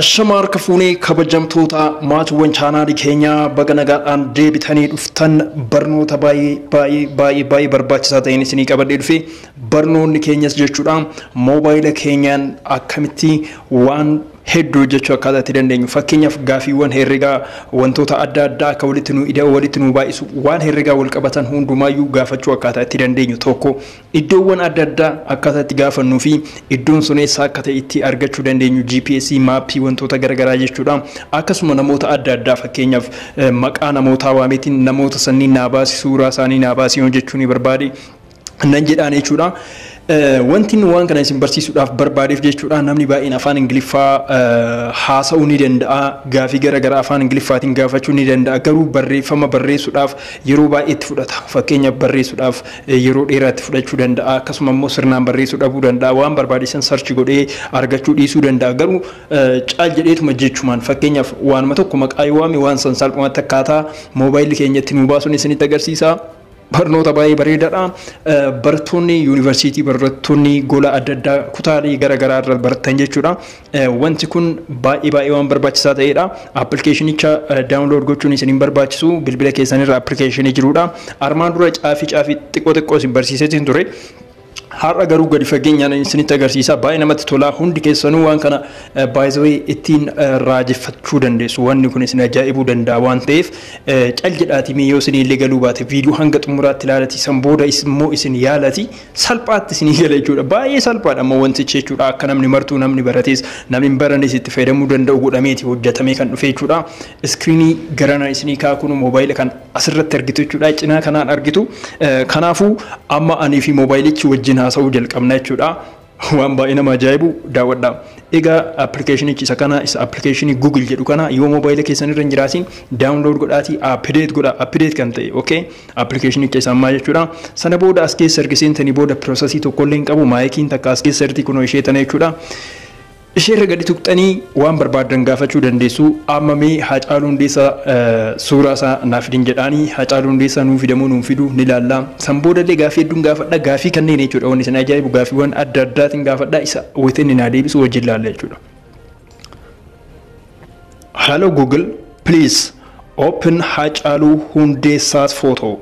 Ashamaa harka fuunee kabajamtoota maatiiwwan chaanaalii keenyaa baga nagaadhaan deebitanii dhuftan barnoota baay'ee baay'ee baay'ee baay'ee barbaachisaa ta'een isinii qabadhee dhufe barnoonni keenyas jechuudha moobaayila keenyaan akkamitti waan hedduu hojjechuu akkaataa itti dandeenyu fakkeenyaaf gaafiiwwan herregaa wantoota adda addaa akka walitti nu ida'u walitti nu baay'isu waan herregaa wal qabatan hundumaayyuu gaafachuu akkaataa itti dandeenyu tokko Iddoowwan adda addaa akkaataa itti gaafannuu fi iddoon sun eessaa akka ta'e itti argachuu dandeenyu GPS, maappii wantoota gara garaa jechuudha. Akkasuma namoota adda addaa fakkeenyaaf maqaa namootaa waameetiin namoota sanniin naa baasi suuraa isaanii naa baasi yoon jechuu ni barbaade nan jedhaan jechuudha. Wanti inni waan kana isin barsiisuudhaaf barbaadeef jechuudha namni baay'een afaan Ingiliffaa haasa'uu ni danda'a gaafii gara garaa afaan Ingiliffaatiin gaafachuu ni danda'a garuu barreeffama barreessuudhaaf yeroo baay'ee itti fudhata fakkeenyaaf barreessuudhaaf yeroo dheeraa itti fudhachuu danda'a akkasuma immoo sirnaan barreessuu dhabuu danda'a waan barbaade san sarchi godhee argachuu dhiisuu danda'a garuu caal jedheetuma jechumaan fakkeenyaaf waanuma tokko maqaa yoo waame waan san salphumatti akkaataa moobaayilli keenya itti nuu baasuun isinitti agarsiisa. Barnoota baay'ee bareedaadha. Barattoonni yuunivarsiitii barattoonni gola adda addaa kutaalee gara garaa irra baratan jechuudha. Wanti kun baay'ee baay'ee waan barbaachisaa ta'eedha. Appilikeeshinicha daawunlood gochuun isin hin barbaachisu. Bilbila keessan irra appilikeeshinii jiruudha. Armaan dura caafii caafii xiqqoo xiqqoo isin barsiiseetiin ture. Har'a garuu gadi fageenyaan isinitti agarsiisa. Baay'ee namatti tola. Hundi keessanuu waan kana baay'ee ittiin raajeffachuu dandeessu. Wanni kun isin ajaa'ibuu danda'a waan ta'eef cal jedhaatii mee yoo isin illee galuu baate viidiyoo hanga xumuraatti ilaalati san booda immoo isin yaalati. salphaatti isinii gala jechuudha. Baay'ee salphaadha ammoo wantichi jechuudha. Akka namni martuu namni baratees namni hin baranees itti fayyadamuu danda'u godhameeti hojjetamee kan dhufe jechuudha. Iskiriinii garanaa isinii kaa kun moobaayila kan asirratti argitu jechuudha. Cinaa kanaan argitu. Kanaafuu amma anii fi moobaayilichi wajjin haasa'uu jalqabna jechuudha. waan baay'ee nama ajaa'ibu daawwadha. Egaa appilikeeshinichi isa kana isa appilikeeshinii Google jedhu kana yoo moobaayila keessan irra hin jiraatiin daawunlood godhaatii appideet godha appideet kan ta'e okay. Application keessaan maa jechuudha. Sana booda as keessa erga seentanii booda processii tokko illee hin qabu. Maayikiin takka as keessa jirti kunoo ishee tana jechuudha. Ishee irra gadi tuqxanii waan barbaadan gaafachuu dandeessu. Amma mee Haacaaluu Hundeessaa suuraa isaa naaf fidin jedhaanii Haacaaluu Hundeessaa nuu fidamoo nuun fidu ni laalla. San booda illee gaaffii hedduun gaafadha. Gaaffii kanneen jechuudha wanni isin ajaa'ibu gaaffiiwwan adda addaatiin gaafadha. Isa within naa deebisu wajjin laalla jechuudha. Hello Google, please open Haacaaluu Hundeessaas photo.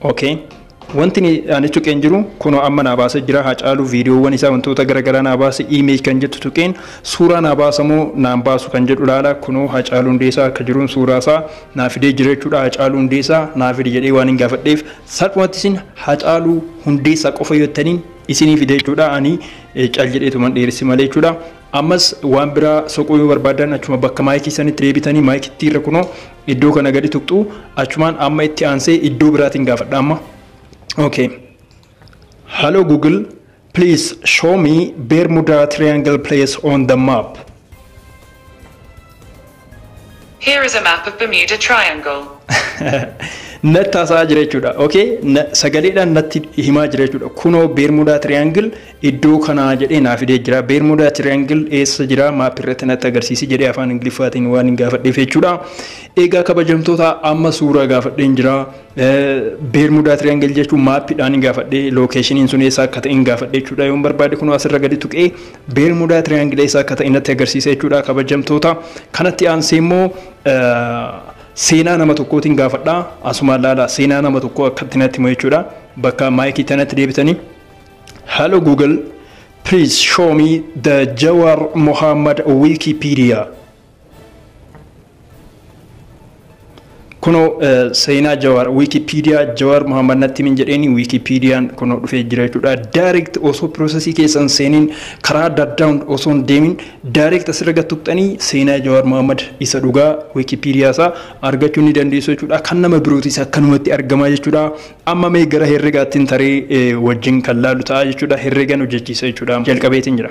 Okay. Wanti ni ani tuqeen jiru kunoo amma naa baasa jira Haacaaluu viidiyoowwan isaa wantoota garaagaraa naa baasa image kan jettu tuqeen suuraa naa baasa moo naan baasu kan jedhu laala kunoo Haacaaluu Hundeessaa akka jiruun suuraa isaa naa fidee jira jechuudha Haacaaluu Hundeessaa naa fide jedhee waan hin gaafadheef salphumatti isin Haacaaluu Hundeessaa qofa yoo jettaniin isinii fide jechuudha ani Cal jedheetuman dheeresse malee jechuudha. Ammas waan biraa soquu yoo barbaadan achuma bakka maayikii sanitti deebitanii maayikitti irra kunoo iddoo kana gadi tuqxu achumaan amma itti aansee iddoo biraatiin gaafadha amma. Okay. Hello Google, please show me Bermuda Triangle place on the map. Here is a map of Bermuda Triangle. natti haasa'aa jira jechuudha. Okay? Na- Sagaleedhaan natti himaa jira jechuudha. Kunoo Beermudaa Triangle iddoo kanaa jedhee naa fidee jira. Beermudaa Triangle eessa jira maappii irratti natti agarsiisi jedhee afaan Ingiliffaatiin waan hin gaafadheef jechuudha. Egaa kabajamtoota amma suuraa gaafadheen jira. Beermudaa Triangle jechuun maappiidhaan hin gaafadhe lookeeshiniin sun eessa akka ta'e hin gaafadhe jechuudha. Yoon barbaade kunoo asirra gadi tuqee Beermudaa tiriyaangilee isaa akka ta'e natti agarsiisa jechuudha kabajamtoota. Kanatti aansee immoo seenaa nama tokkootiin gaafadha. Asumaan laala seenaa nama tokkoo akkatti natti himu jechuudha. Bakka maayikii tanatti deebitanii. Hello Google, please show me the Jawar Muhammad Wikipedia. Kunoo seenaa Jawaar Wikipedia Jawaar Muhammad natti min jedheeni Wikipediyaan kunoo dhufee jira jechuudha. Direct osoo piroosesii keessan seeniin karaa adda addaan osoo hin deemin direct asirra gad tuqxanii seenaa Jawaar Muhammad isa dhugaa Wikipedia isaa argachuu ni dandeessu jechuudha. Kan nama birootis akkanumatti argamaa jechuudha. Amma mee gara herregaattiin taree wajjin kan laalu ta'a jechuudha. Herregan hojjechiisa jechuudha. Jalqabeetiin jira.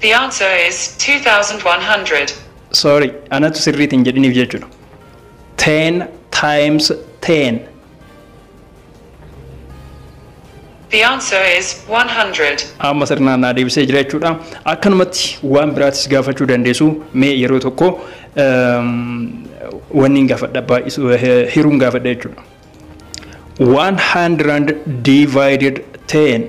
The answer is 2100. Sorry, anatu sirriit hin jedhiniif jechuudha. Ten times ten. The answer is 100. Amma sirnaan naa deebisee jira jechuudha. Akkanumatti waan biraatis gaafachuu dandeessu mee yeroo tokko wanni hin gaafadha baay'isu hiruun gaafadha jechuudha. 100 divided 10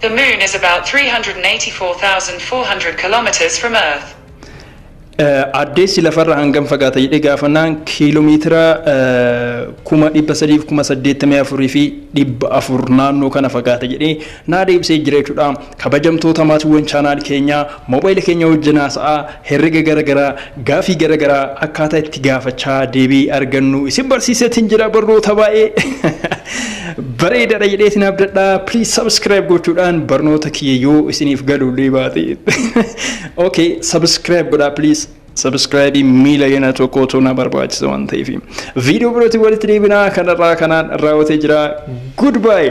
The moon is about 384,400 kilometers from Earth. Addeessi lafarra hangam fagaata jedhee gaafannaan kiiloomeetira kuma dhibba sadiif kuma saddeettamii afurii fi dhibba afur naannoo kana fagaata jedhee naa deebisee jira jechuudha. Kabajamtoota maatiwwan channel keenyaa mobile keenya wajjin haasa'aa, herrega gara garaa, gaafii gara garaa akkaataa itti gaafachaa deebii argannu isin barsiiseetiin jira barnoota baay'ee bareedadha jedheetiin abdadha. Please subscribe gochuudhaan barnoota kiyya yoo isiniif galuullee baate. Okay, subscribe godhaa please. Subscribe miila yana tokkootu na barbaachisa waan ta'eef. Viidiyoo birootiin walitti deebinaa kanarraa kanaan raawwatee jira. Goodbye.